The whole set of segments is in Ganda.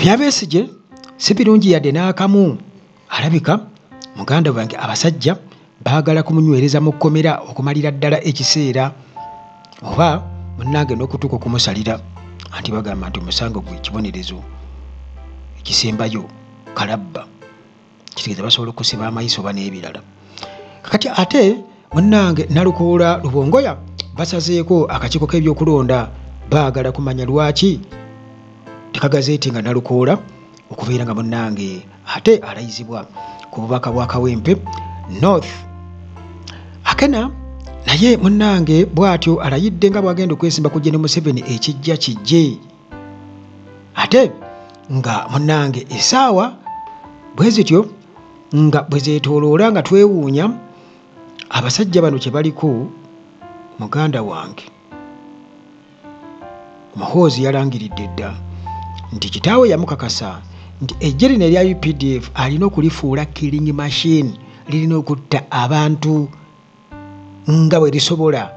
ebyabesigye si birungi yadde n'akamu alabika muganda wange abasajja baagala kumunywereza mu kkomera okumalira ddala ekiseera oba munange n'okutuuka okumusalira anti bagamba nti omusango gwe kibonerezo ekisembayo kalabba kitegeeza basobola okusiba amayiso oba n'ebirala kati ate munnange nalukuula lubongoya basazeeko akakiiko k'ebyokulonda baagala kumanya lwaki tekagazeeti nga nalukuula okubeera nga munnange ate alayizibwa ku bubaka bwa kawempe north akena naye munnange bw'atyo alayidde nga bwagenda okwesimba kujja ne museveni ekijja kijje ate nga munange esaawa bwe zityo nga bwe zeetooloola nga twewuunya abasajja bano kye baliko muganda wange muhoozi yalangiridde dda nti kitaawe yamukakasa nti ejje lino erya updf alina okulifuula killing machine lirina okutta abantu nga bwe lisobola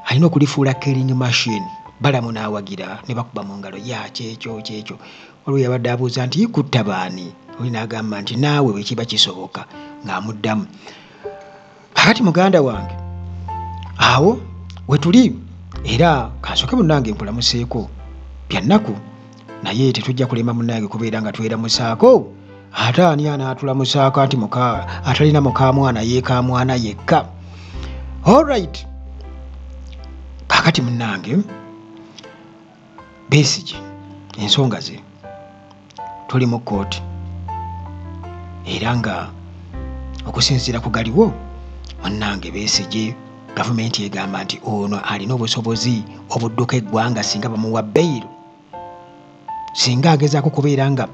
alina okulifuula killing machine balamu n'awagira ne bakuba mu ngalo ya kyekyo kyekyo waliwo yabadde abuuza nti ikutta baani oli n'agamba nti naawe bwe kiba kisoboka ng'amuddamu kakati muganda wange awo wetuli era kansooke munnange nkulamuseeko byannaku naye tetujja kulema munange kubeera nga tweramusaako ate ani anaatulamusaako anti atalina mukamwana yekamwana yekka allright kakati munange besigi ensonga ze tuli mu kooti era nga okusinziira ku galiwo munange besigi gavumenti egamba nti ono alina obusobozi obudduka eggwanga singa bamuwa beyiro singa agezaako kubeera nga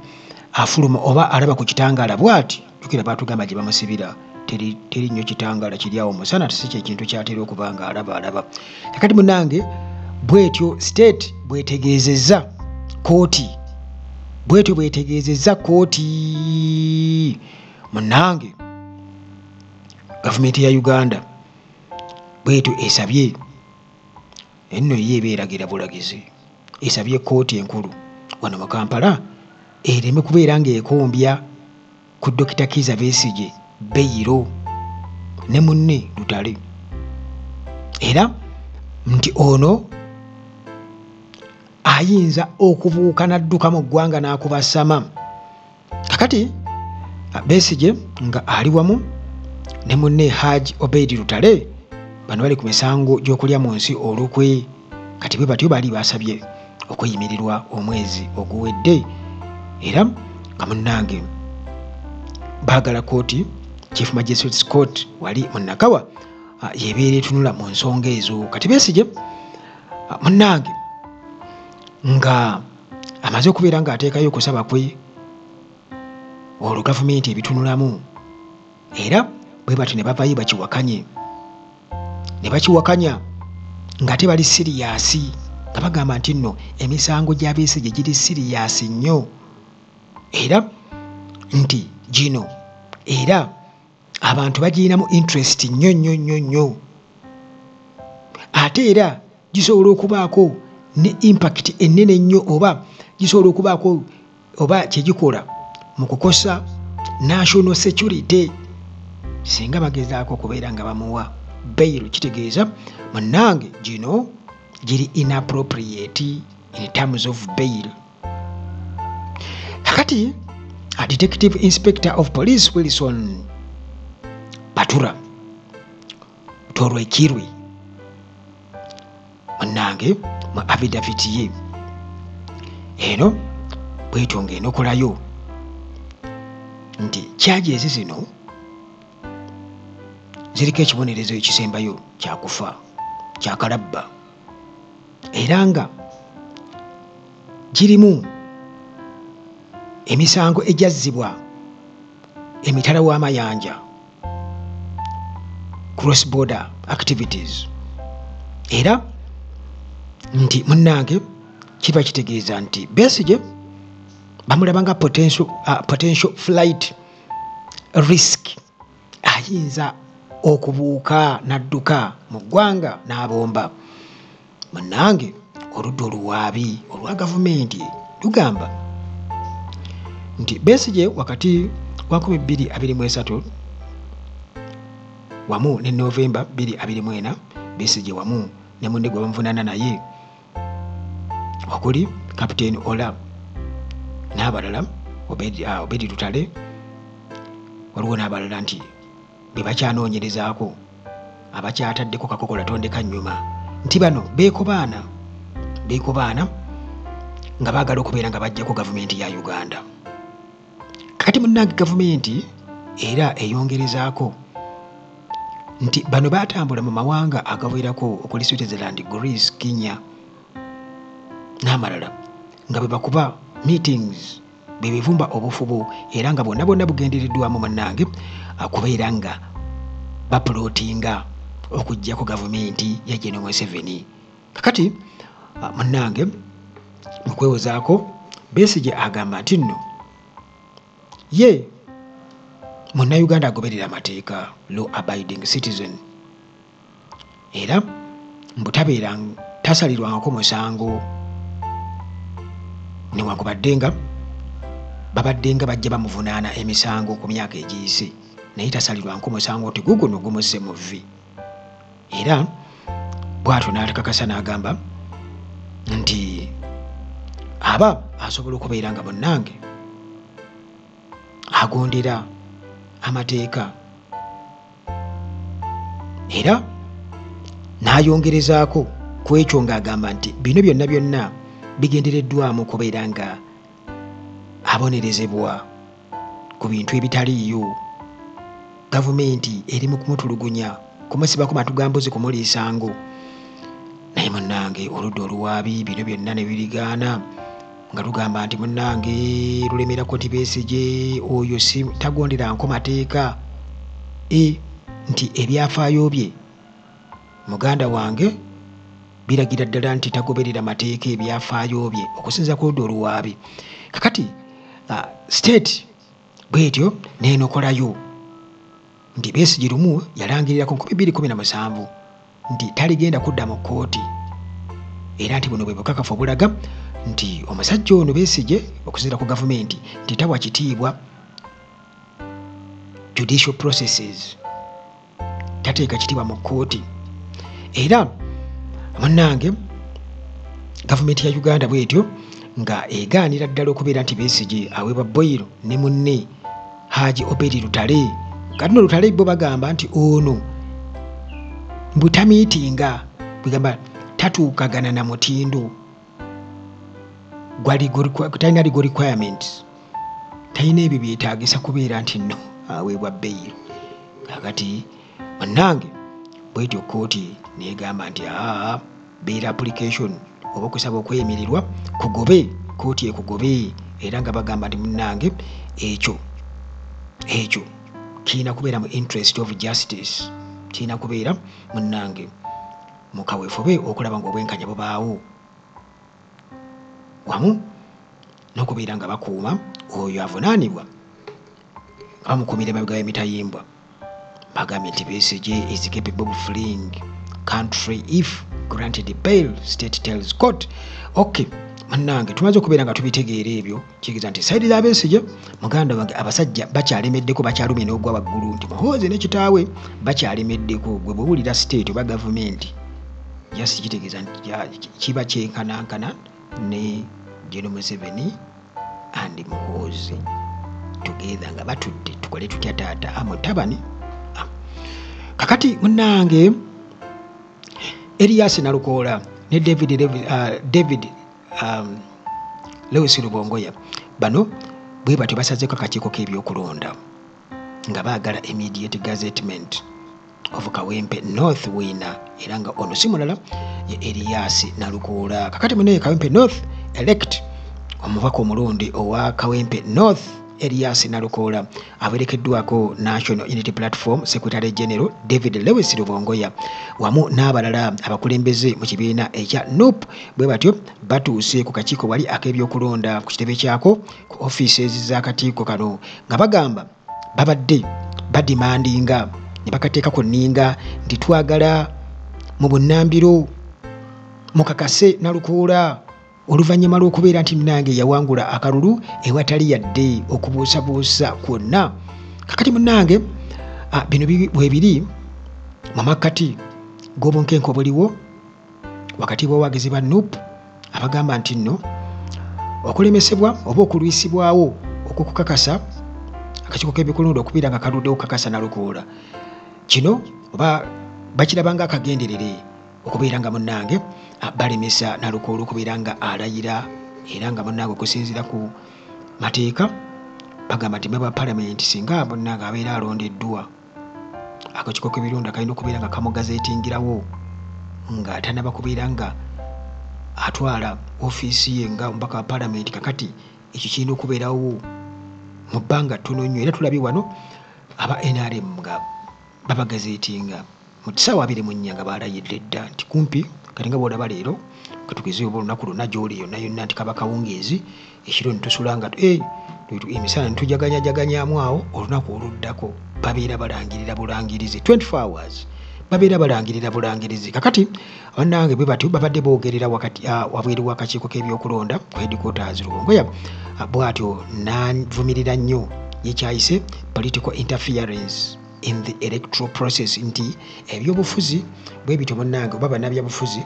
afuluma oba alaba ku kitangaala bwati jukira baatugamba gye bamusibira teri nnyo kitangaala kiri awo musana si kyekintu kyatera okuba nga alaba alaba kakati munange bwetyo state bwetegeezezza kooti bwetyo bwetegeezezza kooti munange gavumenti ya uganda bwetyo esabye Enno ye eba eragira bulagizi esabye kkooti enkulu wano mu Kampala ereme kubeera ng'ekombya ku Dokita Kiiza Besigye beyiro ne munne Lutale era nti ono ayinza okubuuka n'adduka mu ggwanga n'akubasama kakati besigye nga ali wamu ne munne haj obeidi lutale bano bali ku misango gy'okulya mu nsi olukwe kati bwe batyo baali basabye okweyimirirwa omwezi oguwedde era nga munnange baagala kooti chief magistrate scott wali munnakawa ah, yebeera etunula mu nsonga ezo kati besigye ah, munnange nga amaze okubeera ng'ateekayo okusaba kwe olwo gavumenti ebitunulamu era bwe bati ne bavayo bakiwakanye ne bakiwakanya nga te bali siriyaasi nga bagamba nti nno emisango gy'abeese gye giri siriyaasi nnyo era nti gino era abantu bagirinamu interest nnyo nnyo nnyo nnyo ate era gisobola okubaako ne impact ennene nnyo oba gisobola okubaako oba kyegikola mu kukosa national security singa bagezaako okubeera nga bamuwa bairo kitegeeza munange gino giri inappropriate in terms of bail kakati a detective inspector of police wilson batura tolwekirwi munange mu avidavit ye eno bwetyo ngaenokolayo nti kyaji ezi zino ziriko ekibonerezo ekisembayo kyakufa kyakalabba era nga girimu emisango egyazzibwa emitala w'amayanja cross border activities era nti munnange kiba kitegeeza nti besigye bamulaba nga potential, uh, potential flight risk ayinza okubuuka n'adduka mu ggwanga n'abomba munange oludda oluwaabi olwa gavumenti lugamba nti besigye wakati wa 2223 wamu ne novemba 24 besigye wamu ne munne gwe bamuvunaana naye okuli captain ola n'abalala obedi ah, lutale waliwo n'abalala nti be bakyanoonyerezaako abakyataddeko kakokola tondeka nnyuma nti bano beekobaana beekobaana nga baagala okubeera nga bajjako gavumenti ya uganda kati munnange gavumenti era eyongerezaako nti bano baatambula mu mawanga agawerako okuli switzerland greece kenya n'amalala nga bwe bakuba meetings bwe bivumba obufubo era nga bonna bonna bugendereddwamu munnange akubeera nga bapulootinga okugyako gavumenti ya geno museveni kakati ah, munange mukwewozaako besigye agamba nti nno ye munnayuganda agoberera amateeka law abiding citizen era mbutabeera tasalirwangako musango newankubadde nga babadde nga bajja bamuvunaana emisango ku myaka egiyise naye tasalirwanko musango nti guguno gumusse mu vvi era bwatyo n'alikakasa n'agamba nti aba asobola okubeera nga munnange agondera amateeka era n'ayongerezaako ku ekyo ng'agamba nti bino byonna byonna bigendereddwamu kubeera nga abonerezebwa ku bintu ebitaliiyo gavumenti eri mu kumutulugunya kumusiba ku matu ga mbuzi kumuliisango naye munnange oludda oluwaabi bino byonna ne birigaana nga lugamba nti munnange lulemera koti besigye oyo si tagondera nko mateeka e nti ebyafaayo bye muganda wange biragira ddala nti tagoberera mateeka ebyafaayo bye okusinza kuloda oluwaabi kakati uh, state bwetyo nenokolayo nti besigi lumu yalangirira ku 217 nti taligenda kudda mu kkooti era nti buno bwe bukakafu obulaga nti omusajja ono besige okusinzira ku gavumenti nti tawa kitiibwa judicial processes tateeka kitiibwa mu kkooti era munange gavumenti ya uganda bwetyo nga egaanira ddala okubeera nti besigi aweebwa boyiro ne munne haji obedi lutale kati no lutale bo bagamba nti ono mbutamiitinga bwegamba tatuukagana na mutindo talina legal requirements talina ebyo byetagisa kubeera nti no aweebwa beyiro kakati bannange bwetyo kooti negamba nti aa beyiro application oba okusaba okweyimirirwa kugobe kooti ekugobe era nga bagamba nti munnange ekyo ekyo kirina kubeera mu interest of justice kirina kubeera munnange mu kaweefube okulaba ng'obwenkanya bubaawo wamu n'okubeera nga bakuuma oyo avunaanibwa nga bamukuumira emabega y'emitayimbwa bagambye nti besigye is capable of fleeing country if granted bail state tells court okay bannange tumaze okubeera nga tubitegeera ebyo kigeza nti saidi za besigye muganda wange abasajja bakyalemeddeko bakyalumye n'ogwa waggulu nti muhoozi ne kitaawe bakyalemeddeko gwe bwewulira state oba gavumenti just kitegeeza nti kiba kyenkanankana ne geno museveni and muhoozi together nga batudde tukole tutya taata amutabani ah, ah. kakati munange eriyasi nalukoola ne david, david, uh, david um, lewis lubongoya bano bwe batyo basazeeko akakiiko k'ebyokulonda nga baagala immediate gazetment of kawempe north wina era nga ono si mulala ye eriyasi nalukuula kakati munaye kawempe north elect omubaka omulonde owa kawempe north eriyasi nalukuula awerekeddwako National Unity Platform Secretary General David Lewis Lubongoya wamu n'abalala abakulembeze mu kibiina ekya NUP bwe batyo batuuse ku kakiiko wali ak'ebyokulonda ku kitebe kyako ku offices z'akakiiko kano nga bagamba babadde badimandinga ne bakateeka ku nninga nti twagala mu bunnambiro mukakase na lukuula oluvannyuma lw'okubeera nti munange yawangula akalulu ewatali yadde okubuusabuusa kwonna kakati munange ah, bino bwebiri mu makkati g'obunkenke obuliwo wakati bw'awagizi ba nup abagamba nti nno okulemesebwa oba okulwisibwawo okwokukakasa akakiiko k'ebikulundu okubeera nga kaludde okukakasa nalukoola kino oba bakirabanga akagenderere okubeera nga munnange balemesa nalukoolo okubeera nga alayira era nga munnange okusinziira ku mateeka bagamba nti meba palamenti singa munnange abeera alondeddwa akakiko k'ebirunda kalina okubeera nga kamugazetingirawo nga tanaba kubeera nga atwala ofiisi ye nga omubaka wa palamenti kakati ekyo kirina okubeerawo mu bbanga ttono nnyo era tulabye wano aba nrm nga babagazetinga mu kisaawa abiri mu nnya nga baalayidde dda nti kumpi kati nga bwolaba leero katugeze oba olunaku lwonna gyoli yonna yonna nti kaba kawungeezi ekiro nitusula nga eh, emisana nitujaganyajaganyaamu awo olunaku oluddako babeera balangirira bulangirizi 24 hours babeera balangirira bulangirizi kakati banange bwe batyo babadde boogerera wakati ah, wabweru wakakiiko k'ebyokulonda ku headquarters luwongoya ah, bwatyo navumirira nnyo yekyayise political interference in the electoral process nti ebyobufuzi bwe bityo bannange oba bannabyabufuzi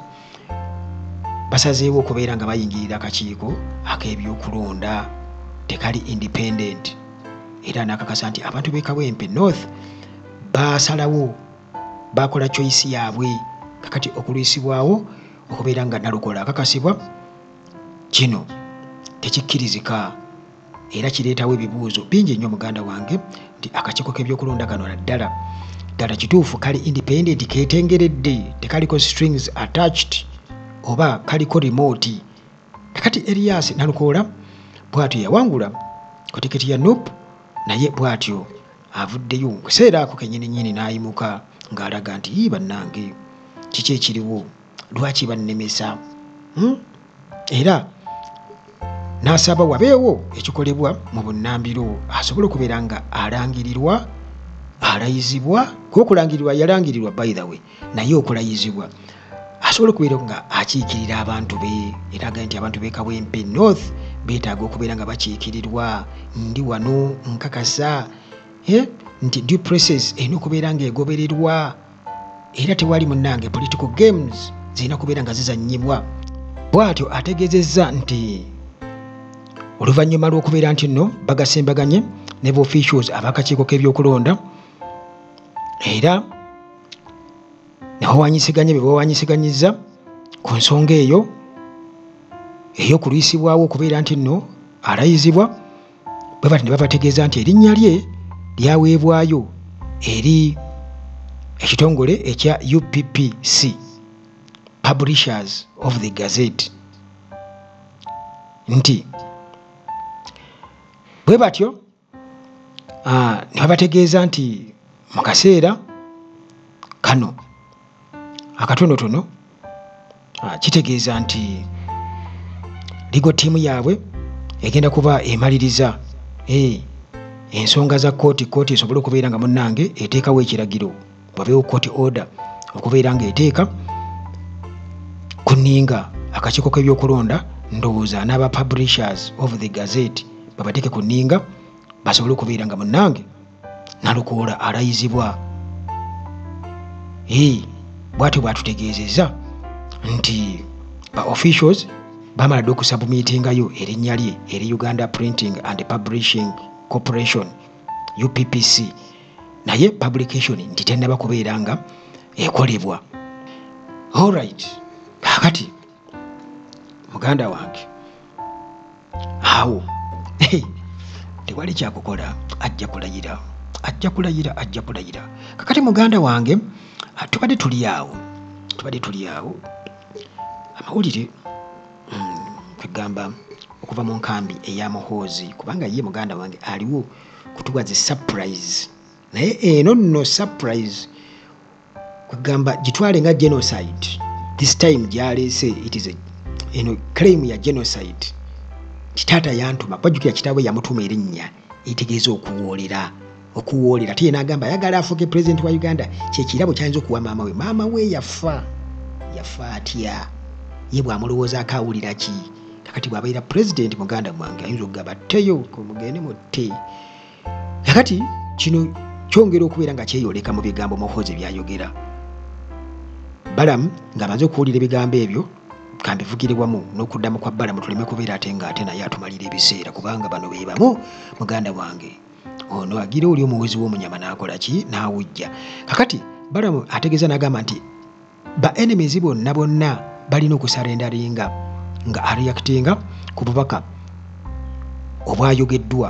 basazeewo okubeera nga bayingirira akakiiko ak'ebyokulonda tekali independent era nakakasa nti abantu bekawempe north basalawo bakola choice yaabwe kakati okulwisibwawo okubeera nga nalukola akakasibwa kino tekikkirizika era kireetawo ebibuuzo bingi nnyo muganda wange nti akakiiko k'ebyokulonda kano naddala ddala kituufu kali independent ketengeredde tekaliko strings attached oba kaliko remote nakati erias nalukoola bwatyo yawangula ku tiketi ya nup naye bwatyo avuddeyo kuseera ako kenyininyini n'ayimuka ng'alaga nti yii bannange kiki ekiriwo lwaki bannemesa hmm? era n'asaba wabeewo ekikolebwa mu bunnambiro asobole okubeera nga alangirirwa alayizibwa kuokulangirirwa yalangirirwa by the way naye okulayizibwa asobola okubeera nga akiikirira abantu be eraga nti abantu bekawempe north betaaga okubeera nga bakiikirirwa ndi wano nkakasa eh, nti dupresses erina okubeera nga egobererwa era tewali munange political games zirina kubeera nga zizanyibwa bwatyo ategezezza nti oluvannyuma lw'okubeera nti nno bagasimbaganye ne boficules abakakiiko k'ebyokulonda era nebawanyisiganye be bawanyisiganyizza ku nsonga eyo ey'okulwisibwawo okubeera nti nno alayizibwa bwe bati ne babategeeza nti erinnya lye lyaweebwayo eri ekitongole ekya uppc publishers of the gazette nti bwe batyo ah, ne babategeeza nti mu kaseera kano akatonotono ah, kitegeeza nti ligo ttiimu yaabwe egenda kuba emaliriza eh, ensonga za kooti kooti esobole okubeera nga munnange eteekawo ekiragiro wabeewo kooti order okubeera nga eteeka ku nninga akakiiko k'ebyokulonda ndowooza n'aba publishers of the gazette babateeke ku nninga basobole okubeera nga munnange nalukoola alayizibwa ee bwatyo bwatutegeezezza nti ba officials bamala dde okusabumiitingayo erinnya lye eri uganda printing and publishing corporation uppc naye publication nti tennaba kubeera nga ekolebwa allright kakati muganda wange awo tewali kyakukola ajja kulayira ajja kulayira ajja kulayira kakati muganda wange ah, tubadde tuli awo tubadde tuli awo amawulire mm, kwegamba okuva mu nkambi eya muhoozi kubanga ye muganda wange aliwo kutuwa zi surprise naye eno nno surprise kwegamba gitwale nga genocide this time gyaleese it is a eno claim ya genocide kitaata yantuma bajjukira kitaabwe yamutuma erinnya etegeeza okuwoolera okuwoolera ate yena agamba ayagala afuuke pulezidenti wa uganda kyekirabo kyayinza okuwa maama we maama we yafa yafa atya ye bwamulowoozaako awulira ki kakati bwabaira pulezidenti muganda mwange ayinza okugaba tteyo mugende mutte kakati kino kyongera okubeera nga kyeyoleka mu bigambo muhozi byayogera balamu ng'amaze okuwulira ebigambo ebyo kambivugire wamu n'okuddamu kwa balamu tuleme kubeera ate ng'ate naye atumalira ebiseera kubanga bano be bamu muganda wange ono agira oli omuwezi w'omunyama n'akola ki n'awujja kakati balamu ategeeza n'agamba nti ba enemies bonna bonna balina okusarendaringa nga areactinga ku bubaka obwayogeddwa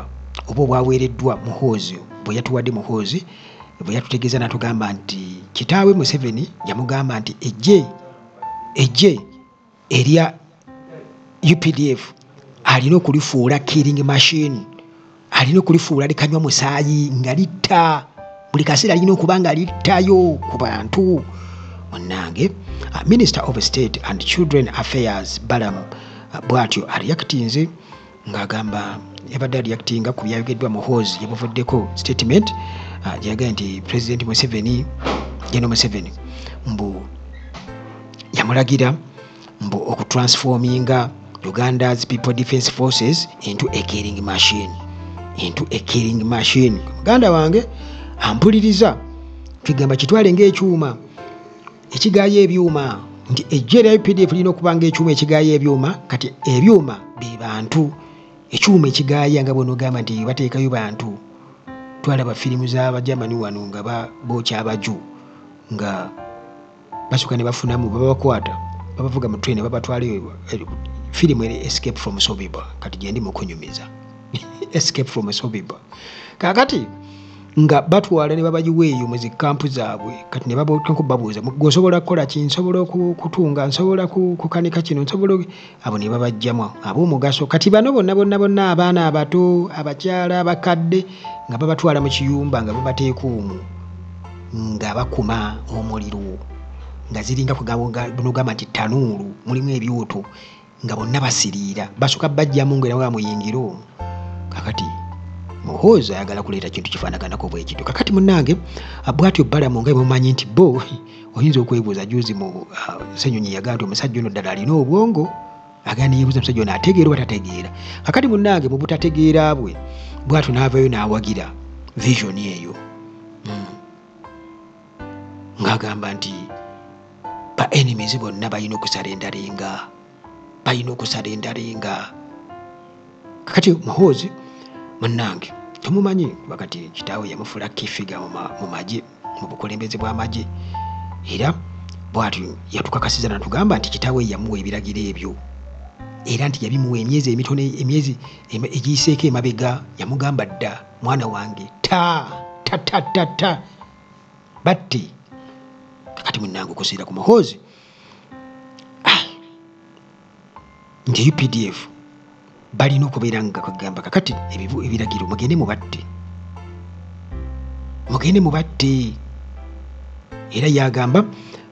oba obwaweereddwa muhoozi bwe yatuwadde muhoozi bwe yatutegeeza natugamba nti kitaawe museveni yamugamba nti ejje ejje erya updf alina okulifuula killing machine alina okulifuula likanywa musaayi nga litta buli kaseera alina okuba nga littayo ku bantu munange uh, minister of state and children affairs balam uh, bwatyo areactinze ng'agamba yabadde aliyakitinga ku byayogeddwa muhoozi gyebuvuddeko statement ah, gyeyagaye nti president museveni geno museveni mbu yamulagira mbu okutransforminga uganda's people defense forces into a killing machine into a killing machine muganda wange ampuliriza kigamba kitwale ngaekyuma ekigaayo ebyuma nti ejjo erya updf lirina okuba nga ekyuma ekigaayo ebyuma kati ebyuma be bantu ekyuma ekigaaya nga bwenogamba nti bateekayo bantu twalaba firimu zabajamani wano nga bookya abaju nga basuka ne bafunamu babakwata babavuga mu train babatwala eh, firimu escape from sobiba kati gyendi mukunyumiza escape from esobiba kakati nga batwala ne babagiwa eyo mu zikampu zaabwe kati ne bababuuza gweosobola kukola ki nsobola okutunga nsobola kukanika kino nsobola abo ne babajjamu ab'omugaso kati bano bonna bonna bonna abaana abato abakyala abakadde nga babatwala mu kiyumba nga babateeka omu nga bakuma omuliro nga ziringa kugamba nti tanuulu mulimu ebyoto nga bonna basiriira basooka bajjamu nga era bamuyingira omu kakati muhoozi ayagala kuleeta kintu kifaanaganako bwekityo kakati munange ah, bwatyo balamu nga mumanyi nti bo oyinza okwebuuza juzi mu ah, senyonyi yagaa nti omusajja ono ddala alina obwongo agaa neyebuuza omusajja ono ategeera oba tategeera kakati munange mu butategeera bwe bwatyo n'avayo n'awagira visioni eyo ng'agamba nti ba enemies bonna balina okusala endarenga balina okusala endarenga kakati muhoozi munnange temumanyi kuba kati kitaawe yamufula kifiga mu magye mu bukulembeze bw'amagye era bwati yatukakasiza natugamba nti kitaawe yamuwa ebiragiro ebyo era nti yabimuwa emyezi emitono emyezi egiyiseeko emabega yamugamba dda mwana wange ta ta ta ta ta batte kakati munange okusiira ku muhoozi ah, nti updf balina okubeera nga kwegamba kakati ebibu ebiragiro mugende mubatte mugende mubatte era yagamba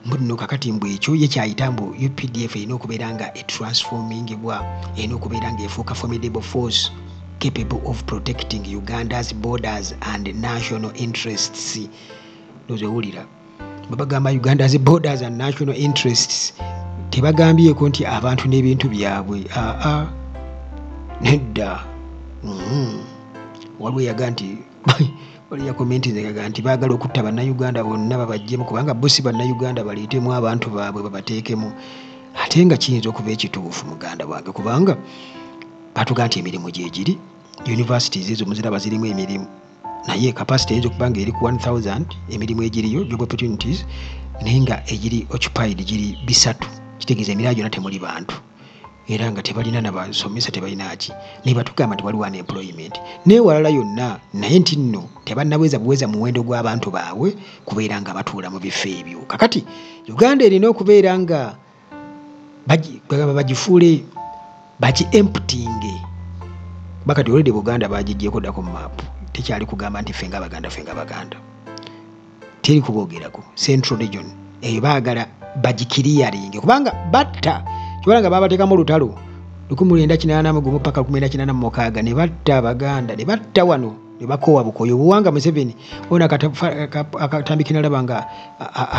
mbunno kakati mbu ekyo ye kyayita mbu updf erina okubeera nga etransformingibwa erina okubeera nga efuuka formidable force capable of protecting uganda's borders and national interests nozewulira babagamba uganda's borders and national interests tebagambyeko nti abantu n'ebintu byabwe aa nedda mm-hmm. waliwo yaga nti waliyo yakomentingaga nti baagala okutta bannayuganda bonna babajjemu kubanga bo si bannayuganda baleetemu abantu baabwe babateekemu ate nga kiyinza okuba ekituufu muganda wange kubanga batuga nti emirimu gyegiri universities ezo muziraba zirimu emirimu naye capacity eyinza okuba nga eri ku 1000 emirimu egiriyo job opportunities naye nga egiri occupied giri bisatu kitegeeza emirala gyonna temuli bantu era nga tebalina nabasomesa tebalinaki naye batugamba nti waliwo unemployment newalala yonna naye nti nno tebannabweza buweza muwendo gw'abantu baabwe kubeera nga batuula mu bifo ebyo kakati uganda erina okubeera nga bagamba bagifuule baki emptinge bakati olede buganda bagijjeeko ddako mu maapu tekyali kugamba nti ffe nga baganda ffe nga baganda teri kubogerako central region eyo baagala bagikiriyaringe kubanga batta kibala nga babateekamu olutalo lukumi lwenda kinaana mugumu paka lukumi lwenda kinaana mumukaaga ne batta abaganda ne batta wano ne bakoowa bukoyo obuwanga museveni ona akatambi kinalaba nga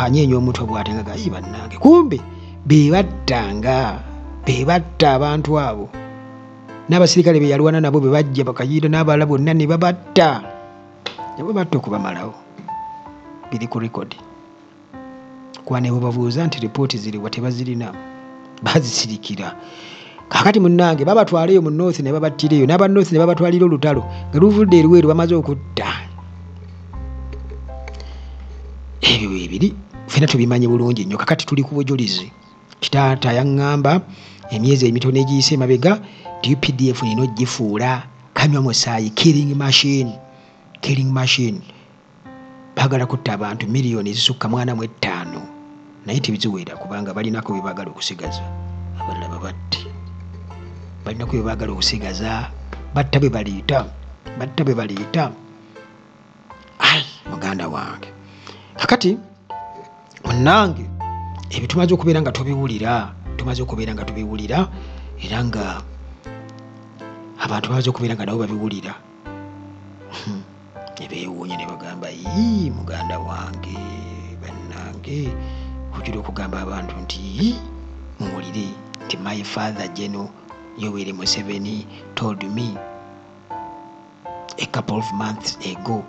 anyeenya omutwe bwate nga gayi bannange kumbe bebattanga bebatta abantu abo n'abasirikale beyalwana nabo bebajja bakayiira n'abalala bonna ne babatta nabo batta okubamalawo biri ku rekodi kwana ewebabuuza nti ripooti ziriwa tebazirina bazisirikira kakati munange babatwaleyo mu north ne babattireyo n'aba north ne babatwalira olutalo nga luvudde eruweeru bamaze okutta ebyo bwebiri fena tubimanyi bulungi nnyo kakati tuli ku bujulizi kitaata yaŋŋamba emyezi emitono egiyise emabega nti updf nina ogifuula kanywa musaayi killing machine killing machine bagala kutta abantu miliyoni ezisukka mwana mu ettaano naye tebiziwera kubanga balinako bebagala okusigaza abalala babatti balinako bebagala okusigaza batta bebaleeta batta bebaleeta ai muganda wange kakati munange ebyo tumaze okubeera nga tubiwulira tumaze okubeera nga tubiwulira era nga abantu bamaze okubeera nga nabo babiwulira hmm. nebewuunya ne bagamba yii muganda wange bannange ojula okugamba abantu nti yii muwulire nti my father geno yoweri museveni told me a couple of months ago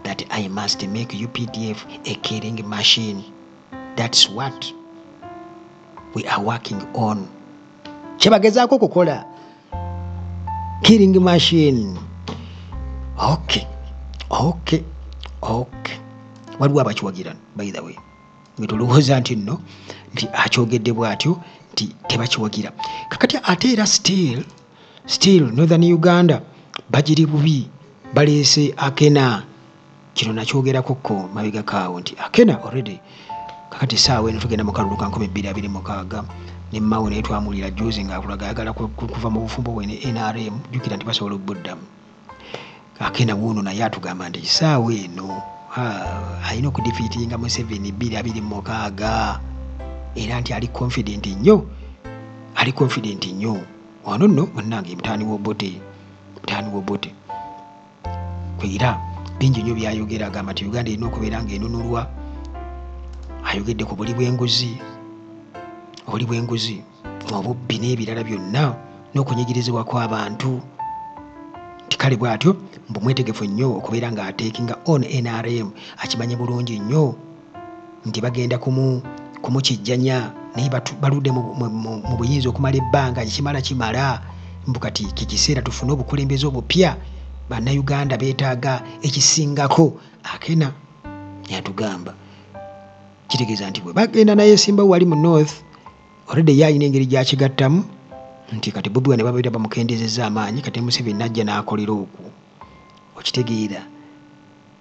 that I must make UPDF a killing machine. That's what we are working on. Kyebagezaako kukola killing machine. Okay, okay, okay. Waliwo abakiwagira by the way nga tolowooza nti nno nti akyogedde bw'atyo nti tebakiwagira kakati ate era still still northern uganda bagiri bubi baleese akena kino nakyogerako ko mabega kaawo nti akena already kakati saawa eno tugenda mukalulu ka 226 nemawo naye twamulira juzi ngaakulaga ayagala kuva mu bufumbo bwe ne nrm jukira nti basobola okubuddamu akena wuuno naye atugamba nti kisaawa eno alina okudifiitinga museveni bbiri abiri mumukaaga era nti ali confident nnyo ali confident nnyo wano nno munange mutaani wobote mutaani wobote era bingi nnyo byayogera agamba nti uganda erina okubeera nga enunulwa ayogedde ku buli bwenguzi obuli bwenguzi obubbi n'ebirala byonna n'okunyigirizibwa kw'abantu nti kale bw'atyo mbu mwetegefu nnyo okubeera ng'ateekinga on nrm akimanyi bulungi nnyo nti bagenda kumu kumukijjanya naye baludde mu buyinza okumala ebbanga ekimala kimala mbu kati kikiseera tufune obukulembeze obupya bannayuganda beetaaga ekisingako akena yatugamba kitegeeza nti bwe bagenda naye simba wali mu north already ye alina engeri gyakigattamu nti kati bobi wane babeera bamukendezeza amaanyi kati museveni najja n'akolera okwo okitegeera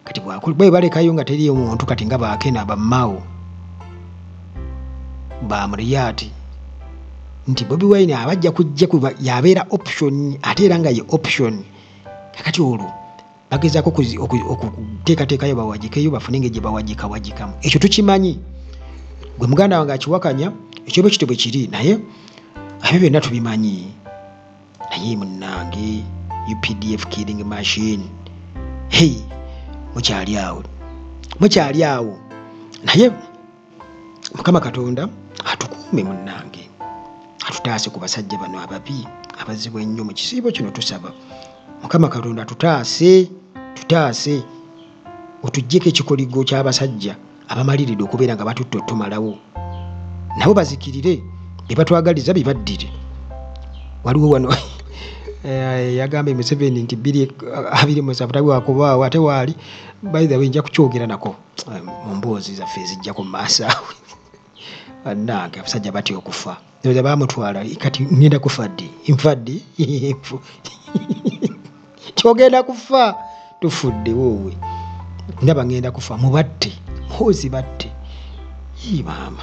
kati bwe balekayo nga teriyo muntu kati nga bakena bamao bamuriyati nti bobi wine abajja kujja kuba yabeera option ate era nga ye option kakati olwo bagezaako okuteekateekayo bawagikeyo bafune nga gyebawagikawagikamu ekyo tukimanyi gwe muganda wange akiwakanya ekyoba ekito bwe kiri naye abyo byonna tubimanyi naye munange updf killing machine hei mukyali awo mukyali awo naye mukama katonda atukuume munnange atutaase ku basajja bano ababi abazibu ennyo mu kisiibo kino tusaba mukama katonda tutaase tutaase otuggyeko ekikoligo ky'abasajja abamaliride okubeera nga batutta otumalawo nabo bazikirire bebatwagaliza bebaddire waliwo wano eh, yagambye museveni nti 2 wakubawo ate waali baithe wenja kukyogera nako mu mboozi zaffe ezijjako mu maaso awo bannange abasajja batya okufa oza bamutwala kati ngenda kufa ddi nfa ddi kyogenda kufa tufudde woowe ndaba ngenda kufa mubatte hoozi batte ii maama